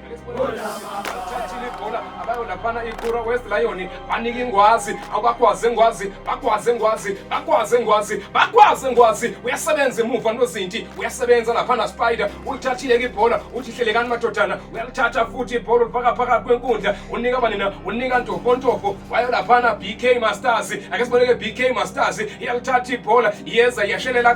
thathile ibhola abayo laphana ikura west lion banika ingwazi abakwazi engwazi bakwazi engwazi bakwazi engwazi bakwazi engwazi uyasebenza emuva nozinti uyasebenza laphana spider ulithathile ke ibhola uthi hlelekani madodana uyalithatha futhi ibhola ulifaka phakathi kwenkundla unika banina unika ntofontofo wayo laphana bk masters ake siboneke bk masters iyalithatha ibhola iyeza iyashelela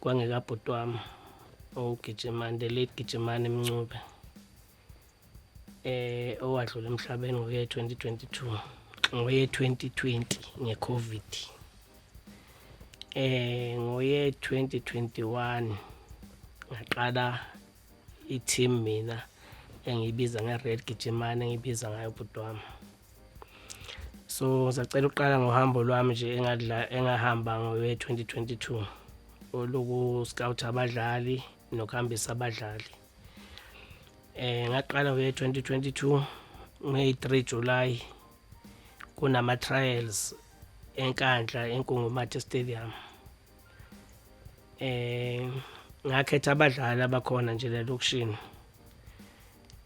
kwangekabhuti wami owugijimani the late gijimani mncube eh owadlula emhlabeni ngoye 2022 ngoye 2020 ngecovid eh ngoye 2021 ngaqala i-team mina engiyibiza nge-red gijimane engiyibiza ngayo bhuti wami so ngizacela ukuqala ngohambo lwami nje engahamba ngowe-2022 oluku-scout abadlali nokuhambisa abadlali eh ngaqala ngowe-2022 ngeyi-3 July kunama-trials enkandla enkungumathe stadium eh ngakhetha abadlali abakhona nje lelokishini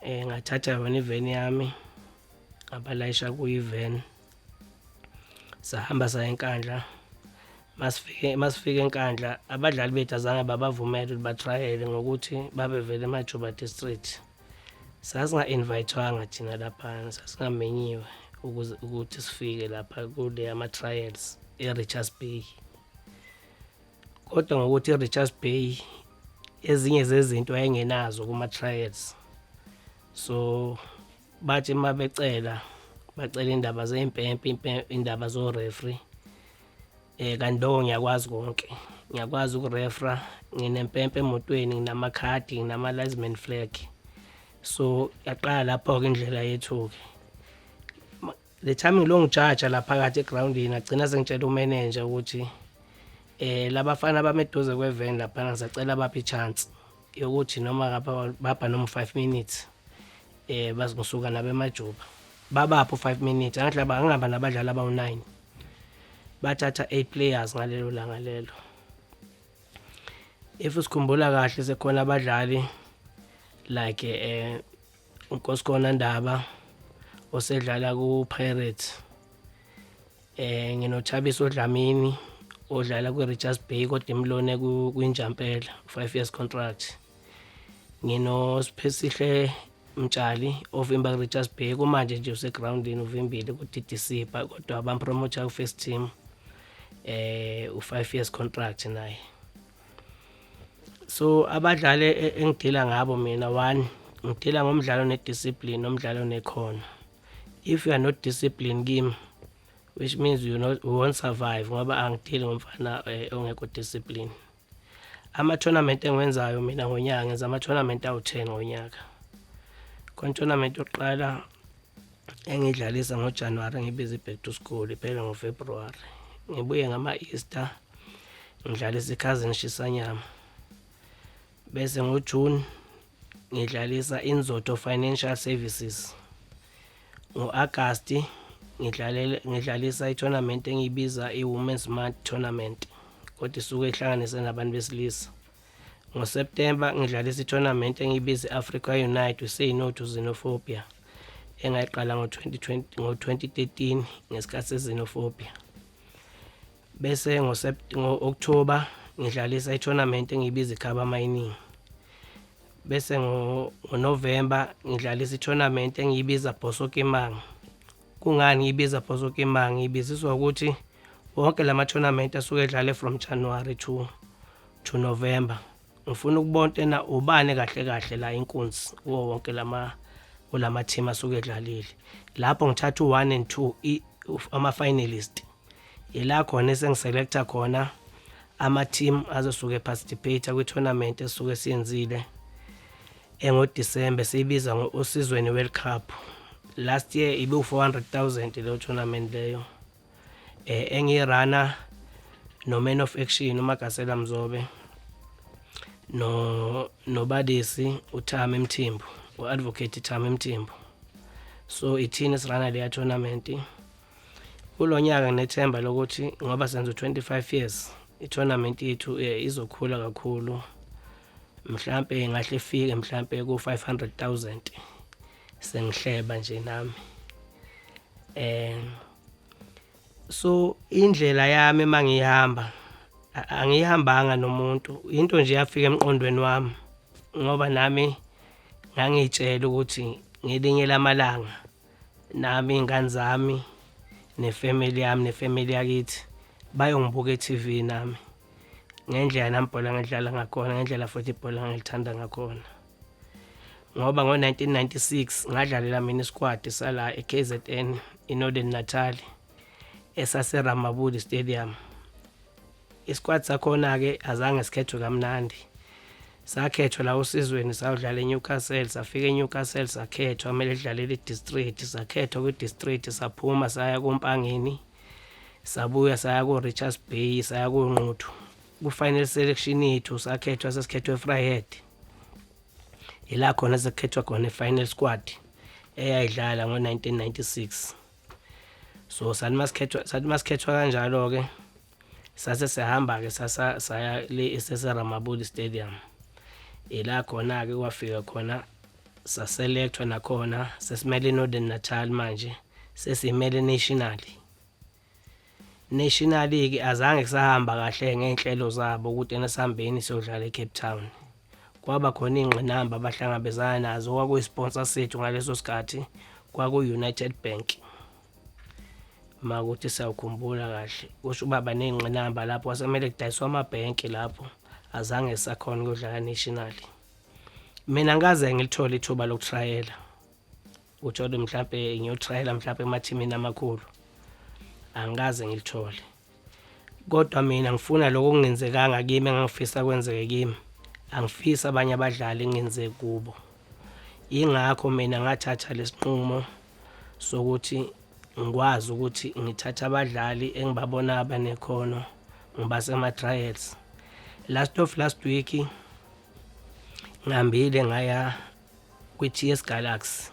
eh ngathatha yona iveni yami abalayisha kuyiven sahamba saya enkandla masifike masifike enkandla abadlali bethu azange babavumele ukuthi batrayele ngokuthi babevele emajuba district sasinga-invayithwanga thina laphana sasingamenyiwe ukuze ukuthi sifike lapha kule ama-trials e-richards bay kodwa ngokuthi i-richards bay ezinye zezinto ayengenazo kuma-trials so bathi uma becela bacela indaba zey'mpempe indaba zorefri um eh, kanti lowo ngiyakwazi konke ngiyakwazi ukurefra nginempempe emotweni nginamakhadi nginama-lisman flag so yaqala lapho-ke indlela yethu-ke Le time ngilongijaja la phakathi egroundini ngagcina sengitshela umenenja ukuthi eh labafana abameduze kweven laphana ngisacela baphi ichance yokuthi noma ngapha baba noma 5 minutes eh bazikusuka nabemajuba babapho 5 minutes angathi laba angihamba nabadlali abawu9 bathatha 8 players ngalelo langa lelo if usikhumbula kahle sekhona abadlali like eh uNkosikona Ndaba osedlala ku-Pirates eh nginothabisa odlamini odlala kwi-Richards Bay kodwa imlone kwinjampela 5 years contract nginosphesihle Mtshali ovimba ku-Richards Bay kumanje nje usegroundini uvimbile ku-DDC kodwa bampromotha ku-first team eh u-5 years contract naye so abadlali e, e, engidila ngabo mina one ngidila ngomdlalo nediscipline nomdlalo nekhono if you are not discipline kimi which means you not you won't survive ngoba angidili ngomfana eh, ongekho discipline ama tournament engiwenzayo mina ngonyaka ngenza ama tournament awu10 ngonyaka kon tournament yokuqala engidlalisa ngojanuwari ngibize i-back to school iphele ngofebruwari ngibuye ngama-easter ngidlalisa ikhazini shisanyama bese ngojuni ngidlalisa inzoto financial services ngo-agasti ngidlalisa i-tournament engiyibiza i-women's mart tournament kodwa isuke ihlanganise nabantu besilisa NgoSeptemba ngidlalisa i-tournament engiyibiza i-Africa Unite Say No to Xenophobia engayiqala ngo-2013 ngesikhathi se-Xenophobia. Bese ngo-October ngidlalisa i-tournament engiyibiza iKhaba Mining. Bese ngo-November ngidlalisa i-tournament engiyibiza Bosso Kimang. Kungani ngiyibiza Bhozokima? Ngiyibiziswa ukuthi wonke la ma-tournament asuke edlale from January to to November. Ngifuna ukubona tena ubani kahle kahle la inkunzi kuwo wonke lama kulama team asuke edlalile. Lapho ngithatha u1 and 2 ama finalist ila khona esengiselecta khona ama-team azosuke eparticipate kwi-tournament esuke siyenzile engodisembe siyibiza ngo-usizweni world cup last year ibe-400 000 leyo tournament leyo um eh, engiyirunner no-man of action umagasela mzobe no nobadisi uthami mthimbu u-advocate thami mthimbu so ithini sirana leya tournament Kulo nyaka nginethemba lokuthi ngoba senza u-25 years i-tournament yethu eh, izokhula kakhulu mhlampe ingahle ifike mhlampe ku-500 000 sengihleba nje nami um so indlela yami uma ngiyihamba angiyihambanga nomuntu into nje yafika emqondweni wami ngoba nami ngangiyitshela ukuthi ngelinye lamalanga nami iy'ngane zami nefemeli yami nefemeli yakithi bayongibuka e-tv nami ngendlela nami ibhola ngidlala ngakhona ngendlela futhi ibhola ngilithanda ngakhona ngoba ngo-1996 ngadlalela mina isikwadi sala e-kzn inorthern natali esaseramabudi stadium Isikwati sakhona-ke azange sikhethwe kamnandi sakhethwa la usizweni sawudlala eNewcastle safika eNewcastle sakhethwa kumele sidlalele idistrict sakhethwa kwidistrict saphuma saya kompangeni sabuya saya ko-richards bay saya konquthu ku-final selection yethu sakhethwa sesikhethwa efryhead yila khona sekukhethwa khona i-final squad eyayidlala ngo-1996 so sathi masikhethwa kanjalo-ke sase sihamba-ke sasa saya le eseseramabuli stadium ila khona-ke kwafika khona saselekthwa nakhona sesimele northern natal manje sesimele nationally nationally-ke azange kusahamba kahle ngey'nhlelo zabo ukuthi ena sihambeni siyodlala ecape town kwaba khona iy'ngqinamba abahlangabezana nazo kwakuyi-sponsor sethu ngaleso sikhathi kwakuyi-united bank uma ukuthi siyawukhumbula kahle kusho uba baney'ngqinamba lapho wasemele kudayiswa amabhenki lapho azange sakhona ukuyodlala nationally mina ngikaze ngilithole ithuba lokutrayela ukuthi kodwa mhlawumbe ngiyotrayela mhlawumbe emathimini amakhulu angikaze ngilithole Kodwa mina ngifuna lokho okungenzekanga kimi engangifisa kwenzeke kimi. Angifisi abanye abadlali ngenze kubo. Yingakho mina ngathatha lesinqumo sokuthi ngikwazi ukuthi ngithathe abadlali engibabona abanekhono ngibase ama trials. Last of last week ngihambile ngaya kwi-TS Galaxy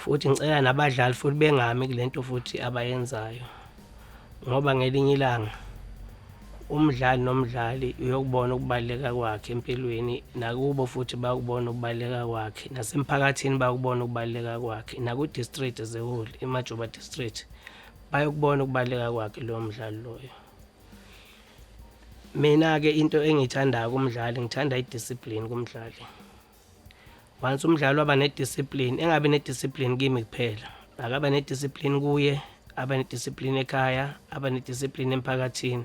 futhi ngicela nabadlali futhi bengami kulento futhi abayenzayo ngoba ngelinye ilanga umdlali nomdlali uyokubona ukubaluleka kwakhe empilweni nakubo futhi bakubona ukubaluleka kwakhe nasemphakathini bakubona ukubaluleka kwakhe naku-district as a whole imajoba district bayokubona ukubaluleka kwakhe lowo mdlali loyo mina-ke into engiyithandayo kumdlali ngithanda i-discipline kumdlali once umdlali waba nediscipline engabe nediscipline kimi kuphela akaba nediscipline kuye aba nediscipline ekhaya aba nediscipline emphakathini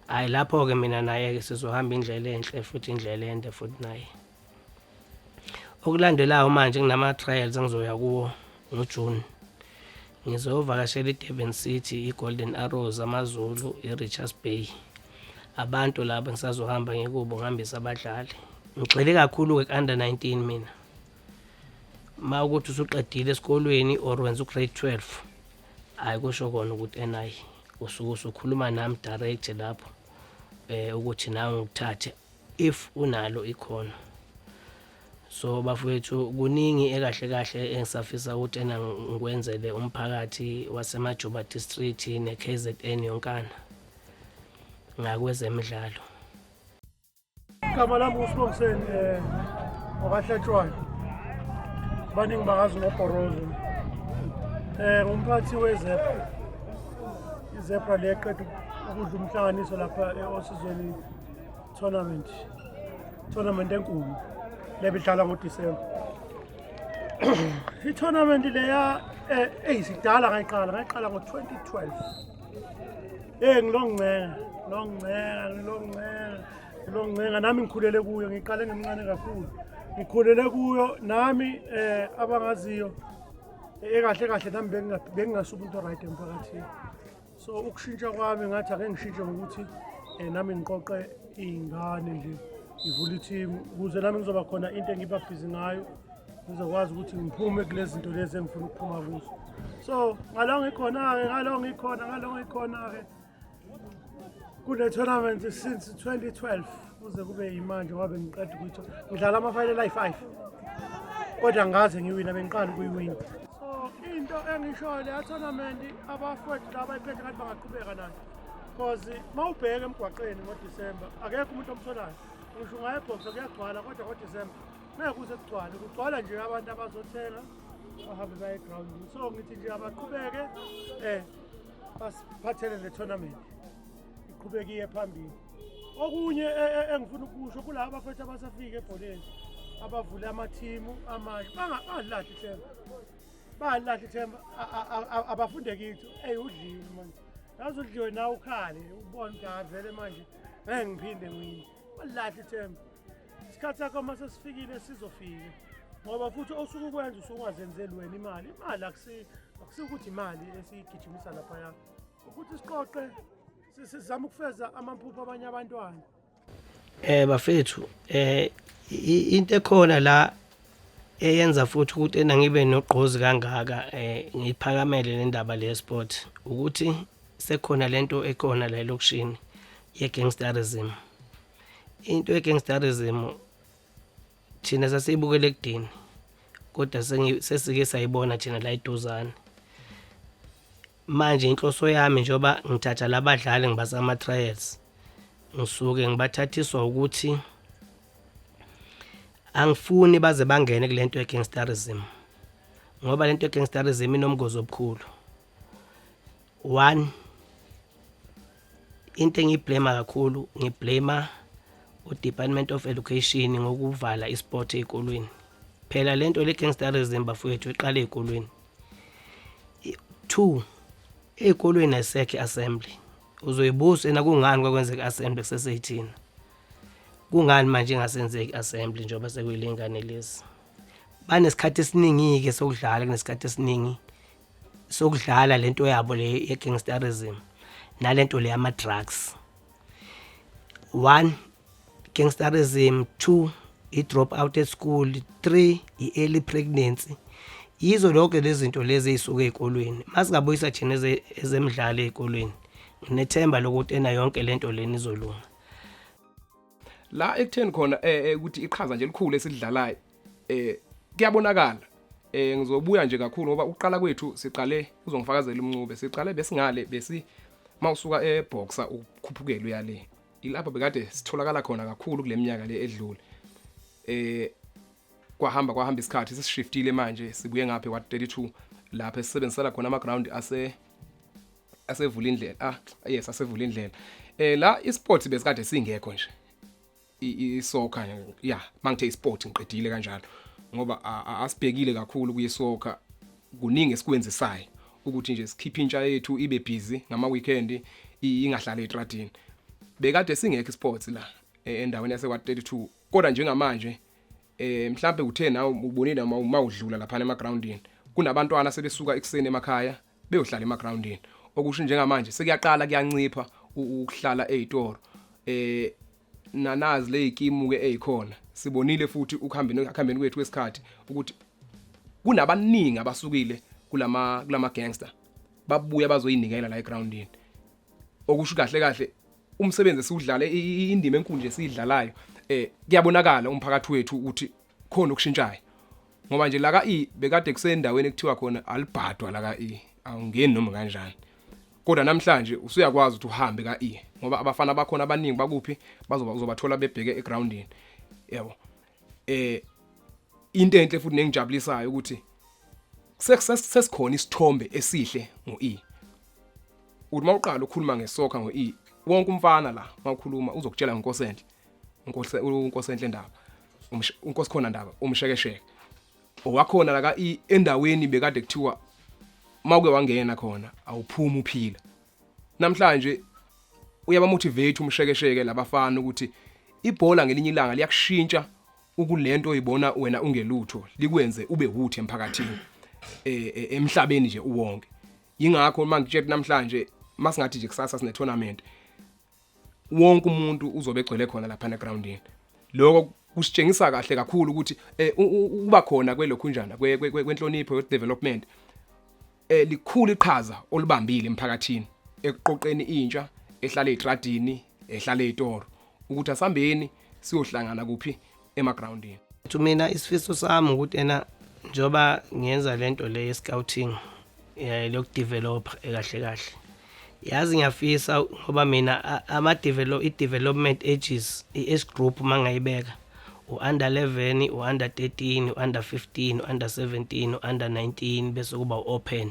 hayi lapho-ke mina naye-ke sizohamba indlela enhle futhi indlela ende futhi naye okulandelayo manje kunama-trials engizoya kuwo ngoJune ngizovakashela iDurban City, iGolden Arrows, AmaZulu, iRichards Bay. Abantu laba ngisazohamba ngikubo ngihambisa abadlali. Ngigxile kakhulu-ke ku-under 19 mina. Uma ukuthi usuqedile esikolweni or wenza ugrade 12, hhayi kusho kona ukuthi NI usuke usukhuluma nami direct lapho um ukuthi nawe ngikuthathe if unalo ikhono. so bafowethu kuningi ekahle kahle engisafisa ukuthi ena ngikwenzele umphakathi wasemajuba district ne-kzn yonkana ngakwezemidlalo igama lami usibongiseni um eh, wakahlatshwayo baningi bakazi ngobhorozo um eh, ngumphathi wezebra izebra leqeda ukudla umhlanganiso lapha e-osizweni tournament tournament enkulu lebidlala ngoDisemba i-tournament leya eh, eyisidala ngayiqala ngayiqala ngo-2012 eyi ngilongincenga ngilongincenga ngilongincenga ngilongincenga nami ngikhulele kuyo ngiqale ngimncane kakhulu ngikhulele kuyo nami eh abangaziyo ekahle kahle nami bengingasuba into right emphakathini so ukushintsha kwami ngathi ake ngishintshe ngokuthi um nami ngiqoqe iy'ngane nje ngivule ithimu ukuze nami ngizoba khona into engibabhizi ngayo ngizokwazi ukuthi ngiphume kule zinto lezi engifuna ukuphuma kuzo so ngalo ngikhona-ke ngalo ngikhona ngalo ngikhona-ke kune-tournament since 2012 kuze kube yimanje wabe ngiqeda ukuthi ngidlala ama-final ayi-five kodwa ngaze ngiwina bengiqala ukuyiwina so into engishoyo leya tournament abafowethu laba iphethe kanti bangaqhubeka nayo because uma ubheke emgwaqeni ngodisemba akekho umuntu omtholayo ngisho ungayebhoxa kuyagcwala kodwa ngodisemba ngeke kuze kugcwale kugcwala nje abantu abazothenga bahambe baye egrawundini so ngithi nje abaqhubeke um basiphathele le tournament iqhubekiye phambili okunye e, e, engifuna ukusho kulaba bafethu abasafike ebholeni abavule amathimu amanye bangalahli ithemba bangalahli ithemba abafunde kithi eyi udliwe manje yazi udliwe nawe ukhale ubone ukuthi avele manje ngeke ngiphinde ngini balahli ithemba isikhathi sakho uma sesifikile sizofika ngoba futhi osuke ukwenza usuke ungazenzeli wena imali imali akusikuthi imali esiyigijimisa laphaya ukuthi siqoqe sizama ukufeza amaphupho abanye abantwana eh bafethu eh into ekhona la eyenza futhi ukuthi ena ngibe nogqozi kangaka eh ngiphakamele le ndaba le sport ukuthi sekhona lento ekhona la elokishini ye gangsterism into ye gangsterism thina sasiyibukela ekudini kodwa sesike sayibona thina la iduzane manje inhloso yami njengoba ngithatha labadlali ngibasa ama trials ngisuke ngibathathiswa ukuthi angifuni baze bangene kulento ye gangsterism ngoba lento ye gangsterism inomgozi obukhulu one into engiyiblema kakhulu ngiblema udepartment of education ngokuvala isport ey'kolweni phela le nto le-gangsterism bafowethu iqale ey'kolweni two ey'kolweni ayisekho i-assembly uzoyibuza ena kungani kwakwenzeka i-assembly kuseseyithina kungani manje ingasenzeki assembly njengoba sekuyilengane lezi banesikhathi esiningi-ke sokudlala kunesikhathi esiningi sokudlala lento yabo le ye gangsterism nalento le ama drugs one gangsterism two i drop out at school three i early pregnancy yizo lonke lezinto lezi ezisuka ezikolweni masingabuyisa thina ezemidlalo ezikolweni nginethemba lokuthi ena yonke lento leni izolunga la ekutheni khona eh, eh, ukuthi iqhaza nje elikhulu esidlalayo eh kuyabonakala eh ngizobuya nje kakhulu ngoba uqala kwethu siqale uzongifakazela umncube siqale besingale besi mawusuka eboxer ukukhuphukela uyale ilapho bekade sitholakala khona kakhulu kuleminyaka le edlule eh kwahamba kwahamba isikhathi sishiftile manje sibuye ngapha kwa32 lapha esisebenzisela khona ama ground ase asevula indlela ah yes asevula indlela eh la isports besikade singekho nje isoccer ya mangithe isport ngiqedile kanjalo ngoba asibhekile kakhulu kuyisoccer kuningi esikwenzisayo ukuthi nje sikhiphe intsha yethu ibe busy ngama weekend ingahlala etradini bekade singekho isports la e, endaweni yase kwa 32 kodwa njengamanje eh mhlambe uthe nawe ubonile uma uma udlula lapha emagroundini kunabantwana sebesuka ekuseni emakhaya beyohlala emagroundini okusho njengamanje sekuyaqala kuyancipha ukuhlala ezitoro eh nanazi lezikimu ke ezikhona sibonile futhi ukuhambeni akuhambeni kwethu kwesikhathi ukuthi kunabaningi abasukile kulama kulama gangster babuya bazoyinikela la egroundini okusho kahle kahle umsebenzi esiwudlale indima enkulu nje siyidlalayo eh kuyabonakala umphakathi wethu ukuthi khona okushintshayo ngoba nje laka E bekade kusendaweni ekuthiwa khona alibhadwa laka E awungeni noma kanjani kodwa namhlanje usuyakwazi ukuthi uhambe ka E ngoba abafana bakhona abaningi bakuphi bazoba uzobathola bebheke egroundini yabo eh into enhle futhi nengijabulisayo ukuthi sesikhona isithombe esihle ngo E uthi mawuqala ukukhuluma ngesoccer ngo E wonke umfana la mawukhuluma uzokutshela ngenkosenhle unkosi unkosi enhle ndaba unkosi khona ndaba umshekesheke owakhona la ka endaweni bekade kuthiwa mawuke wangena khona awuphumi uphila namhlanje uyabamotivate umshekesheke labafana ukuthi ibhola ngelinye ilanga liyakushintsha ukulento oyibona wena ungelutho likwenze ube wuthi emphakathini e, e, emhlabeni nje uwonke yingakho uma ngitshela namhlanje masingathi nje kusasa sine tournament wonke umuntu uzobe egcwele khona lapha negroundini lokho kusitshengisa kahle kakhulu ukuthi eh, uba khona kwelokhunjana kwenhlonipho youth development eh, likhulu iqhaza olubambile emphakathini ekuqoqeni intsha ehlale etradini ehlale etoro ukuthi asambeni siyohlangana kuphi emagroundini ukuthi mina isifiso sami ukuthi ena njoba ngenza lento le scouting eh lokudevelop ekahle kahle yazi ngiyafisa ngoba mina ama develop i development ages i age group mangayibeka u under 11 u under 13 u under 15 u under 17 u under 19 bese kuba open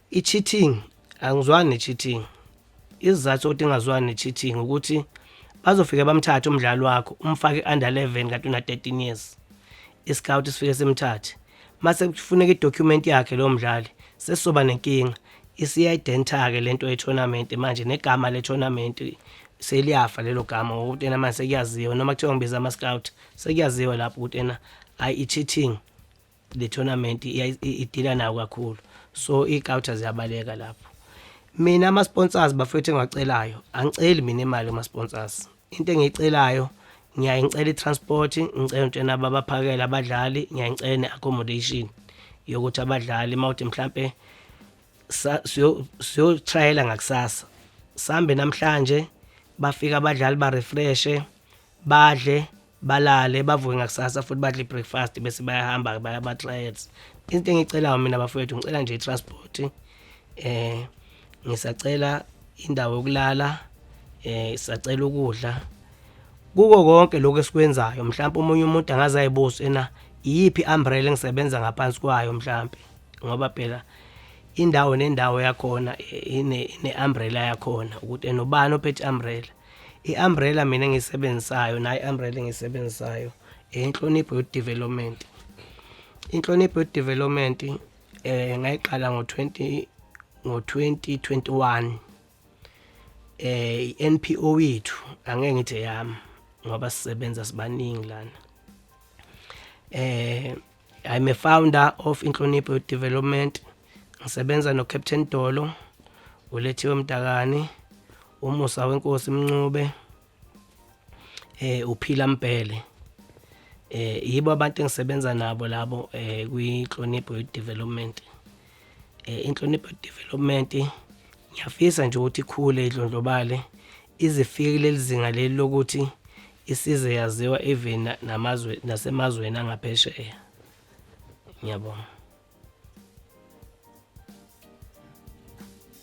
I-cheating angizwani ne-cheating isizathu sokuthi ingazwani ne-cheating ukuthi bazofike bamthathe umdlali wakho umfake i-under 11 kanti una-13 years i-scout sifike simthathe mase kufuneka i-document yakhe lowo mdlali sesizoba nenkinga isiya-identa-ke le nto ye-tournament manje negama le-tournament seliyafa lelo gama ngokuthi ena manje sekuyaziwa noma kuthiwa ngibiza ama-scout sekuyaziwa lapho ukuthi ena ayi i-cheating the tournament idila nawo kakhulu so igauta ziyabaleka lapho mina ama-sponsors bafethu engiwacelayo angiceli mina imali kuma-sponsors into engiyicelayo ngiyaye ngicela i-transport ngicela ntshena babaphakele abadlali ngiyaye ngicela ne-accommodation yokuthi abadlali uma uthi mhlampe siyotrayela ngakusasa sambe namhlanje bafika abadlali barefreshe badle balale bavuke ngakusasa futhi badle breakfast bese bayahamba baya ama trials into engicelayo mina bafowethu ngicela nje transport eh ngisacela indawo yokulala eh sacela ukudla kuko konke lokho esikwenzayo mhlawumbe umunye umuntu angaze ayibuze ena iyiphi umbrella engisebenza ngaphansi kwayo mhlawumbe ngoba phela indawo nendawo yakhona eh, ine ine umbrella yakhona ukuthi enobani ophethe umbrella i-umbrella mina engiyisebenzisayo nayo i-umbrella engiyisebenzisayo inhlonipho yodevelopment inhlonipho yodevelopment eh ngayiqala ngo-20 ngo-2021 eh i-NPO yethu angeke ngithi yami ngoba sisebenza sibaningi lana eh I'm a founder of Inhlonipho Youth Development. Ngisebenza no Captain Dolo, uLethiwe Mdakane, uMusa weNkosi Mncube, eh uPhila Mbhele. Eh yibo abantu engisebenza nabo labo eh kwi Inhlonipho Youth Development. eh, inhlonipho development ngiyafisa nje ukuthi ikhule idlondlobale izifike kuleli zinga leli lokuthi isize yaziwa even namazwe nasemazweni angaphesheya ngiyabonga